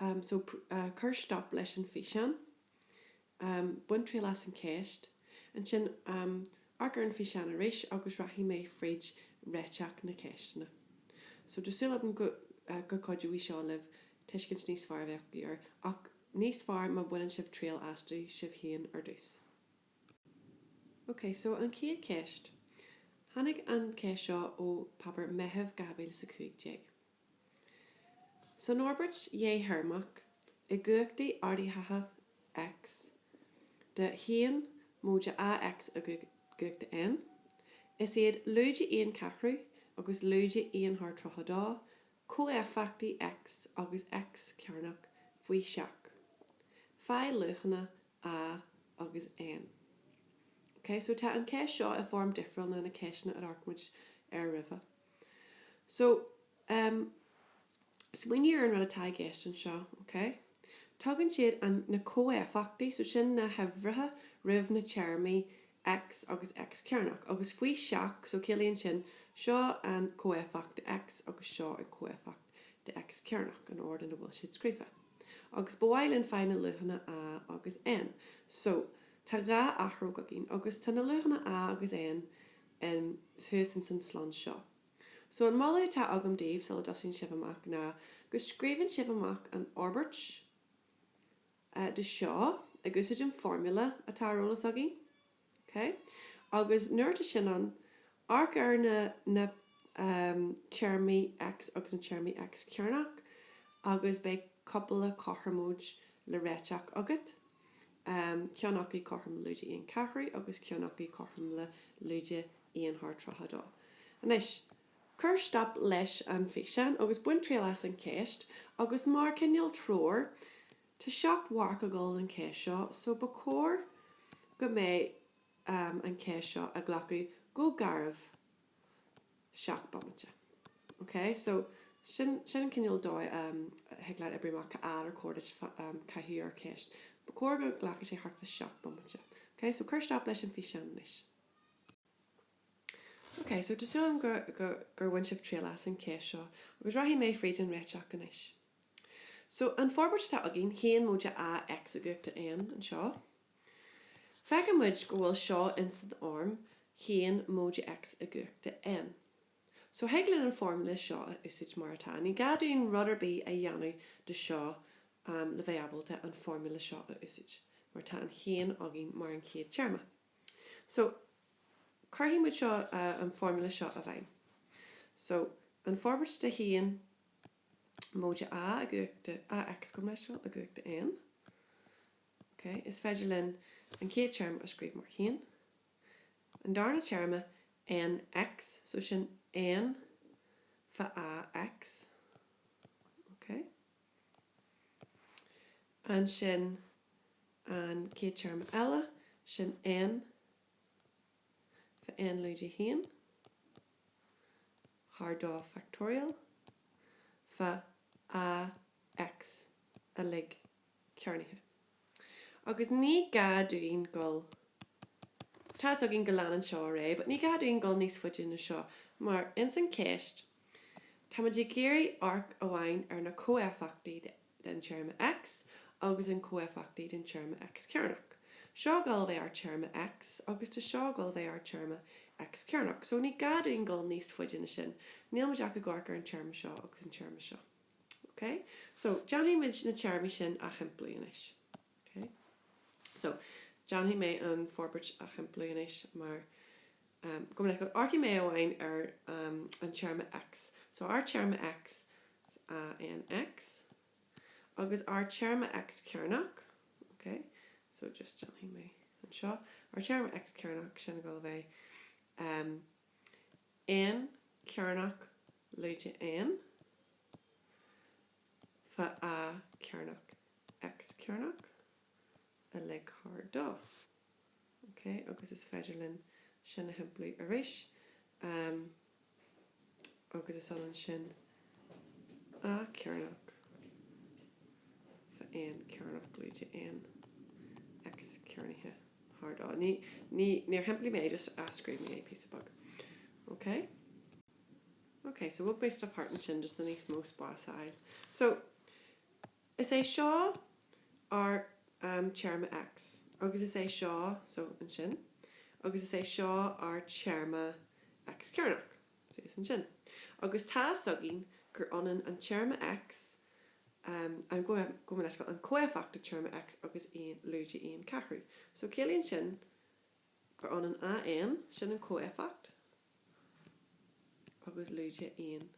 Am so cuir stop leis an físeán. Am, bain triail as an cheist. Ansin, am, amharc ar an físeán arís agus rachaidh mé fríd réiteach na ceisteanna. So tá súil agam go gcuideoidh seo libh tuiscint níos fearr a bheith agaibh air, ach níos fearr má bhaineann sibh triail astu sibh féin ar dtús. OK, so an chéad cheist. Tháinig an cheist seo ó Páipéar Meithimh 2015. San fhorbairt dhéthéarmach, i gcumhachtaí ardaithe X de 1 móide AX i gcumhacht N, is iad lúide aon cheathrú agus lúide aon thar tríocha dó comhéifeachtaí X agus X cearnach faoi seach. Faigh luachanna A agus N. OK, so tá an cheist seo i bhfoirm difriúil ná na ceisteanna a d'amharc muid air roimhe. So, em, smaoinigh ar an rud atá i gceist anseo, ok? Tugann siad an, na comhéifeachtaí, so sin na huimhreacha roimh na téarmaí X agus X cearnach, agus faoi seach, so ciallaíonn sin, seo an comhéifeacht de X agus seo an comhéifeacht de X cearnach, an ord ina bhfuil siad scríofa. Agus ba mhaith linn fáil na luachanna A agus N. So, tá dhá athróg againn, agus tá na luachanna A agus N, em, thuas ins an slonn seo. So, an moladh atá agam daoibh, sula dtosaíonn sibh amach, ná go scríobhann sibh amach an fhorbairt, eh, de seo, ag úsáid an foirmle atá ar eolas againn, ok, agus nuair atá sin ann, amharc ar na, na, em, téarmaí X agus na téarmaí X cearnach, agus beidh cúpla cothromóid le réiteach agat. ceann acu cothrom le lúide aon cheathrú agus ceann acu cothrom le lúide aon thar tríocha dó. Anois, cuir stop leis an físeán agus bain triail as an cheist, agus mar cineál treoir, tá seacht marc ag dul don cheist seo, so ba chóir go mbeidh an cheist seo ag glacadh go garbh. 7 bomaite. OK? So, sin, sin an cineál dóigh a thig leat oibriú amach ar chóir duit caitheamh ar cheist. Ba chóir go nglacfadh sé thart fá 7 bomaite. OK? So, cuir stop leis an físeán anois. OK, so tá súil agam go, go, gur bhain sibh triail as an cheist seo, agus rachaidh mé fríd an réiteach anois. So, an forbairt atá againn, haon móide A, X i gcumhacht a N anseo, Feiceann muid go bhfuil seo ins an fhoirm haon móide X i gcumhachta N. So thig linn an foirmle seo a úsáid mar atá. Ní gá dúinn rud ar bith a dhéanamh de seo le bheith ábalta an foirmle seo a úsáid, mar tá an haon againn mar an chéad téarma. So cuirfidh muid seo an foirmle seo i bhfeidhm. So an forbairt de 1 móide A i gcumhachta X, gabh mo leithscéal, i gcumhachta N. Ok, is féidir linn an chéad téarma a scríobh mar haon, an darna téarma NX, so sin N fá AX, ok, ansin an chéad téarma eile, sin N fá N lúide 1, thar dó factorial, fá AX uilig cearnaithe. Agus ní gá dúinn dul, tá's againn go leanann seo ar aghaidh, but ní gá dúinn dul níos faide ná seo, mar ins an cheist, táimid ag iarraidh amharc amháin ar na comhéifeachtaí den téarma X agus an comhéifeachtaí den téarma X cearnach. Seo ag dul a bheith ár téarma X, agus tá seo ag dul a bheith ár téarma X cearnach. So ní gá dúinn dul níos faide ná sin, níl muid ach ag amharc ar an téarma seo agus an téarma seo. OK? So, déanfaidh muid na téarmaí sin a shimpliú anois. OK? So, déanfaidh mé an forbairt a shimpliú anois mar, um, go bhfuil, amharcfaidh mé amháin ar, um, an téarma X. So, ár téarma X, is ea AN X. Agus ár téarma X cearnach, OK? So, just déanfaidh mé anseo. Ár téarma X cearnach, sin ag dul a bheith. Um. N, cearnach, lúide N, fá A cearnach, X, cearnach, uilig thar dó. OK, agus is féidir linn sin a shimpliú arís, agus is ionann sin. A cearnach fá N cearnach lúide N X cearnaithe thar dó ní ní níor shimplí mé just athscríobh mé é píosa beag ok ok so bhog mé stuff thart ansin just le níos mó spás a fháil so is é seo ár um, téarma X agus is é seo so ansin agus is é seo ár téarma X cearnach So is ansin, agus tá's againn gur ionann an téarma X, an, gabh mo leithscéal, an comhéifeacht den téarma X agus aon, lúide aon ceathrú. So, ciallaíonn sin gur ionann AN, sin an comhéifeacht, agus lúide aon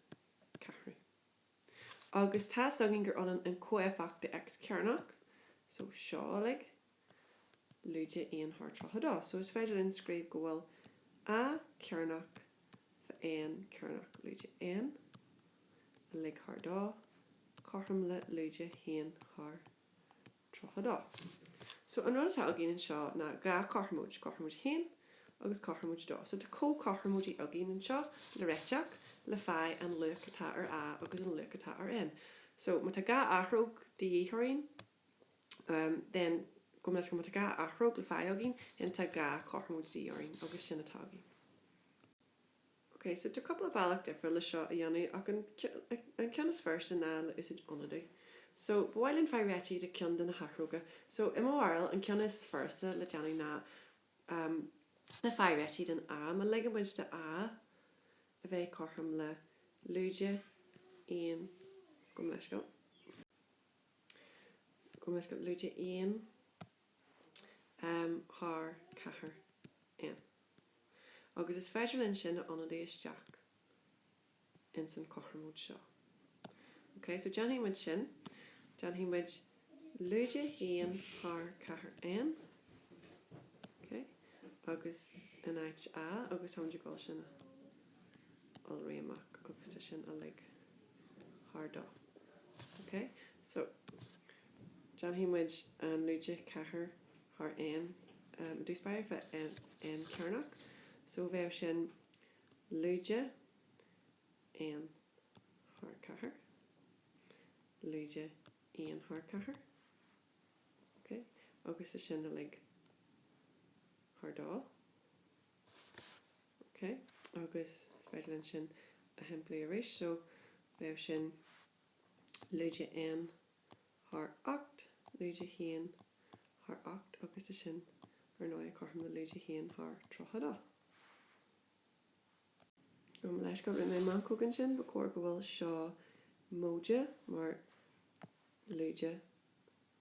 ceathrú. Agus tá's againn gur ionann an comhéifeacht de X cearnach, so seo uilig, lúide 1 thar 32. So is féidir linn scríobh go bhfuil A cearnach fá N cearnach lúide N, uilig thar 2, cothrom le lúide 1 thar 32. So, an rud atá againn anseo ná dhá chothromóid, cothromóid 1 agus cothromóid 2. So, tá comhchothromóidí againn anseo le réiteach le fáil an luach atá ar A agus an luach atá ar N. So, má tá dhá athróg de dhíth orainn, um, then, gabh mo leithscéal, má tá dhá athróg le fáil againn, then tá dhá chothromóid de dhíth orainn agus sin atá againn. Ok, so tá cúpla bealach difriúil le seo a dhéanamh ach an an ceann is furasta ná le úsáid ionadú. So, ba mhaith linn fáil réitithe de ceann de na hathróga. So, i mo bharúil, an ceann is furasta le déanamh ná ehm le fáil réitithe den A, má ligeann muid do A a bheith cothrom le lúide aon gabh mo leithscéal lúide aon um thar ceathair N, agus is féidir linn sin a ionadú isteach ins an chothromóid seo. OK, so déanfaidh muid sin, déanfaidh muid lúide haon thar ceathair N, OK, agus in áit A, agus táimid ag dul sin a iolrú amach, agus tá sin uilig thar dó. OK, so. Déanfaidh muid an lúide ceathair thar N, i dtús báire fá N cearnach, so bheadh sin lúide N thar ceathair, lúide 1 thar ceathair, ok, agus is sin uilig thar dó, ok, agus is féidir linn sin a shimpliú arís, so bheadh sin lúide N thar ocht lúide haon thar ocht agus tá sin, ar ndóigh, cothrom le lúide haon thar tríocha dó. Gabh mo leithscéal, rinne mé meancóg ansin, ba chóir go bhfuil seo móide mar lúide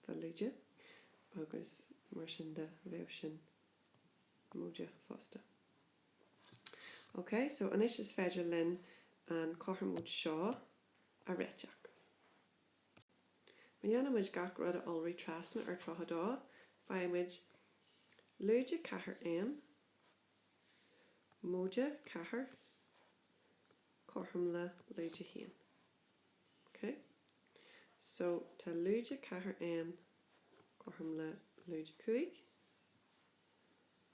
fá lúide agus mar sin de bheadh sin móide fosta. Ok, so anois is féidir linn an chothromóid seo a réiteach. Má dhéanann muid gach rud a iolrú trasna ar 32, faigheann muid lúide ceathair N, móide ceathair, cothrom le lúide haon. OK? So, tá lúide ceathair N cothrom le lúide cúig.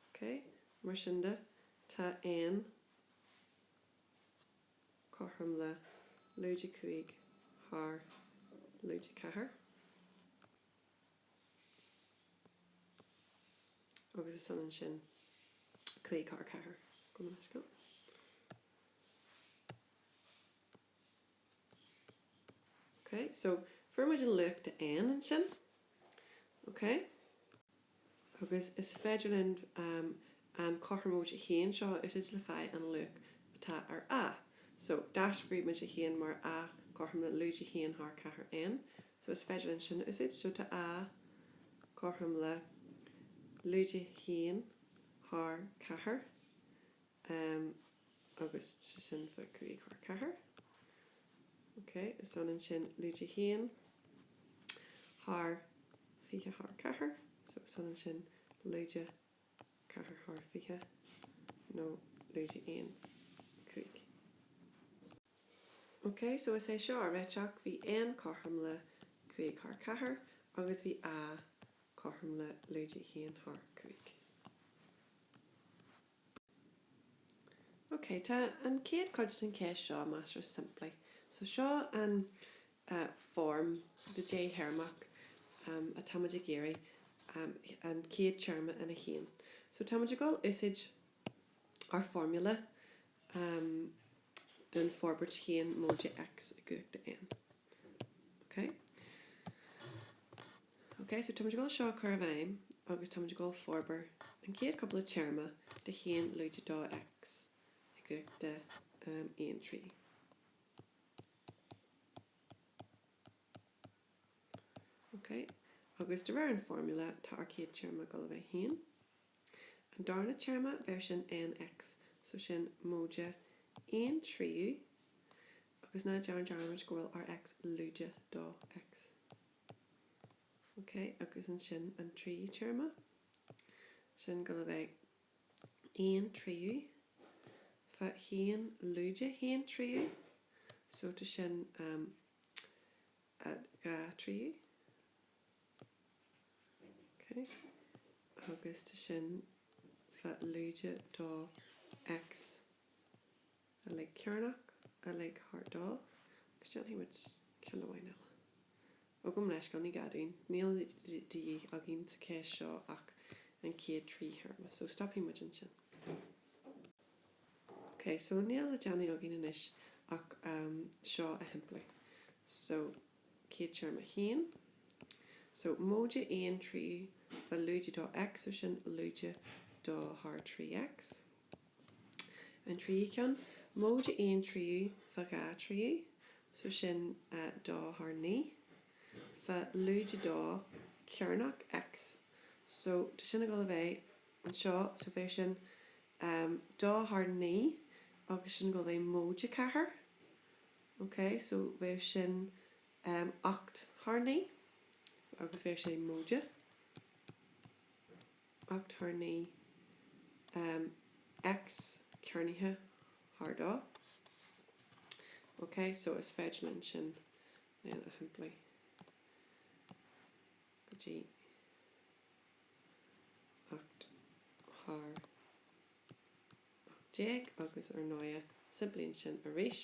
OK? Mar sin de, tá N. cothrom le lúide 5 thar lúide 4, agus is ionann sin 5 thar 4, gabh mo leithscéal. Ok, so fuair muid an luach de N ansin. Ok. Agus is féidir linn an cothromóid a haon seo a úsáid le fáil an luach atá ar A. So, d'athscríobh muid a haon mar A cothrom le lúide a haon thar 4 N. So, is féidir linn sin a úsáid. So, tá A cothrom le lúide a haon thar 4 Ehm, agus sin fá cúig thar ceathair. Ok, is ionann sin lúide haon thar fiche thar ceathair, so is ionann sin lúide ceathair thar fiche, nó lúide aon cúig. Ok, so is é seo ár réiteach, bhí N cothrom le cúig thar ceathair, agus bhí A cothrom le lúide haon thar cúig. Ok, tá an chéad chuid den cheist seo measartha simplí. So seo an form de déthéarmach atáimid ag iarraidh an chéad téarma ina haon. So táimid ag dul úsáid ár formula den forbairt haon móide X i gcumhacht de N. Ok? OK, so táimid ag dul seo a chur i bhfeidhm agus táimid ag dul forbair an chéad chúpla téarma de haon lúide dó X i gcumhacht de aon trí. OK, agus de réir an formula, tá ár chéad téarma ag dul a bheith haon. An darna téarma, bheir sin N X, so sin móide aon tríú, agus ná dearn dearmad go bhfuil ár X lúide dó X. OK, agus ansin an tríú téarma? Sin ag dul a bheith aon tríú fá haon lúide haon tríú, so tá sin um a dhá tríú. OK, agus tá sin fá lúide dó X. uilig cearnach, uilig thar dó, agus déanfaidh muid ceann amháin eile. Ó gabh mo leithscéal, ní gá dúinn, níl de dhíth againn sa cheist seo ach an chéad trí théarma, so stopfaidh muid ansin. OK, so níl le déanamh againn anois ach seo a shimpliú. So, chéad téarma a haon. So, móide aon tríú fá lúide dó X, so sin lúide dó thar trí X. an tríú ceann, móide aon tríú fá dhá thríú, so sin dó thar naoi, fá lúide dó cearnaithe X, so tá sin ag dul a bheith anseo, so bheadh sin dó thar naoi agus sin ag dul a bheith móide a ceathair, ok, so bheadh sin ocht thar naoi agus beidh sé móide. ocht thar naoi X cearnaithe thar dó. OK, so is féidir linn sin a shimpliú go dtí ocht thar ocht déag agus ar ndóighe, simpliú ansin arís.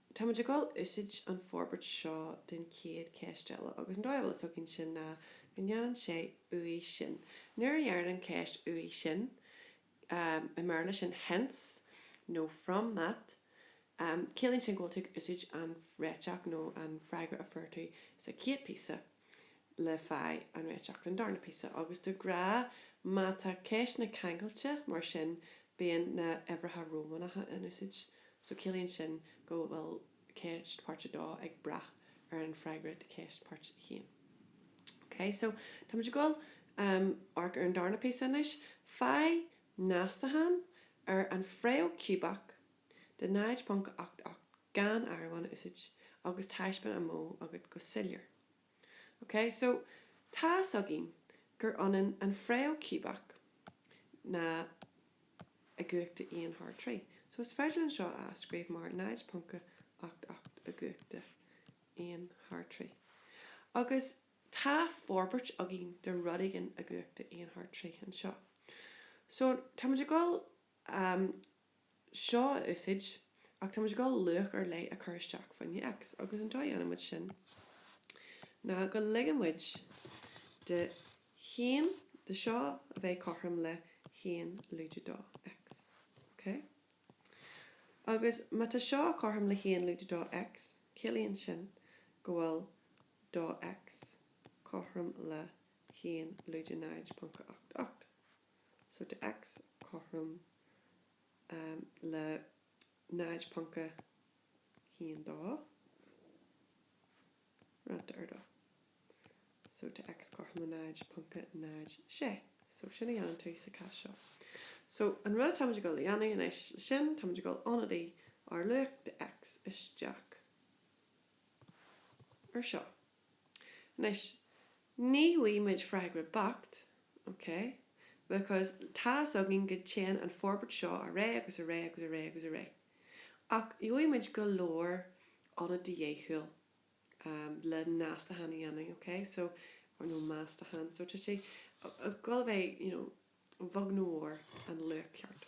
Táimid ag dul úsáid an forbairt seo don chéad cheist eile, agus an dóigh a bhfuil a fhios againn sin ná go ndeireann sé uaidh sin. Nuair a deireann ceist uaidh sin, i mBéarla sin hence nó from that, ciallaíonn sin go bhfuil tú ag úsáid an réiteach nó an freagra a fuair tú sa chéad phíosa. le fáil an réiteach don darna píosa, agus de ghnáth má tá ceisteanna ceangailte mar sin bíonn na h-uimhreacha Rómánacha in úsáid, so ciallaíonn sin go bhfuil ceist páirt 2 ag brath ar an fhreagra de cheist páirt 1. Ok, so táimid ag dul amharc ar an darna píosa anois. Faigh meastachán ar an fhréamh chiúbach de 0.88 gan áireamhán a úsáid, agus taispeán an modh agat go soiléir. OK, so, tá's againn gur ionann an fhréamh chiúbach ná i gcumhacht a 1 thar 3. So, is féidir linn seo a athscríobh mar 0.88 i gcumhacht a 1 thar 3. Agus tá forbairt againn de rud éigin i gcumhacht a 1 thar 3 anseo. So, táimid ag dul seo a úsáid, ach tá muid ag dul luach ar leith a chur isteach faoi choinne X, agus an dóigh a dhéanann muid sin ná go ligeann muid do cheann de seo a bheith cothrom le haon lúide dó X. OK? Agus má tá seo cothrom le haon lúide dó X, ciallaíonn sin go bhfuil dó X cothrom le haon lúide 0.88. so tá x cothrom le 0.1 dó roinnte ar dó so tá x cothrom le 0.06 so sin a dhéanann tú sa chás seo. So an rud atáimid ag dul a dhéanamh anois leis sin, táimid ag dul ionadaí ár luach de x isteach ar seo. Anois, ní fhaighimid freagra beacht, ok, because tá's againn go dtéann an forbairt seo ar aghaidh agus ar aghaidh agus ar aghaidh agus ar aghaidh. Ach gheobhaimid go leor ionad de dheachúil le n-astacháin a dhéanamh, ok, so, or nó meastachán, so tá sé ag dul a bheith, you know, a bheag nó a mhór, an luach ceart.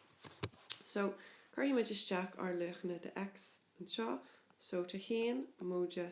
So, cuirfimid isteach ár luachanna de X anseo, so tá haon móide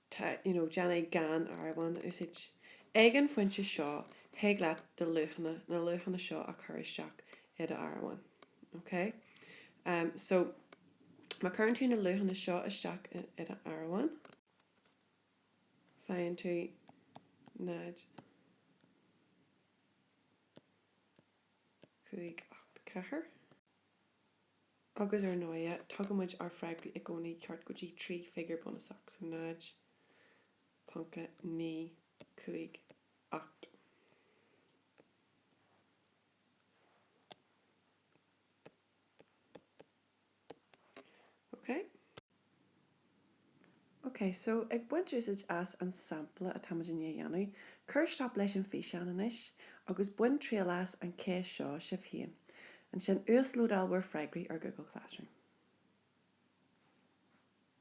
tá, you know, déanamh gan áireamhán a úsáid. Ag an phointe seo, thig leat do luachanna, na luachanna seo a chur isteach i do áireamhán. OK? So, má chuireann tú na luachanna seo isteach i do áireamhán, faigheann tú 0, 5, 8, 4. Agus, ar ndóighe, tugaimid ár bhfreagra i gcónaí ceart go dtí trí figiúr bunúsach, so 0.958. OK? OK, so, ag baint úsaid as an sampla atáimid i ndiaidh a dhéanamh, cuir stop leis an físeán anois agus bain triail as an cheist seo sibh féin. Ansin uaslódáil bhur freagraí ar Google Classroom.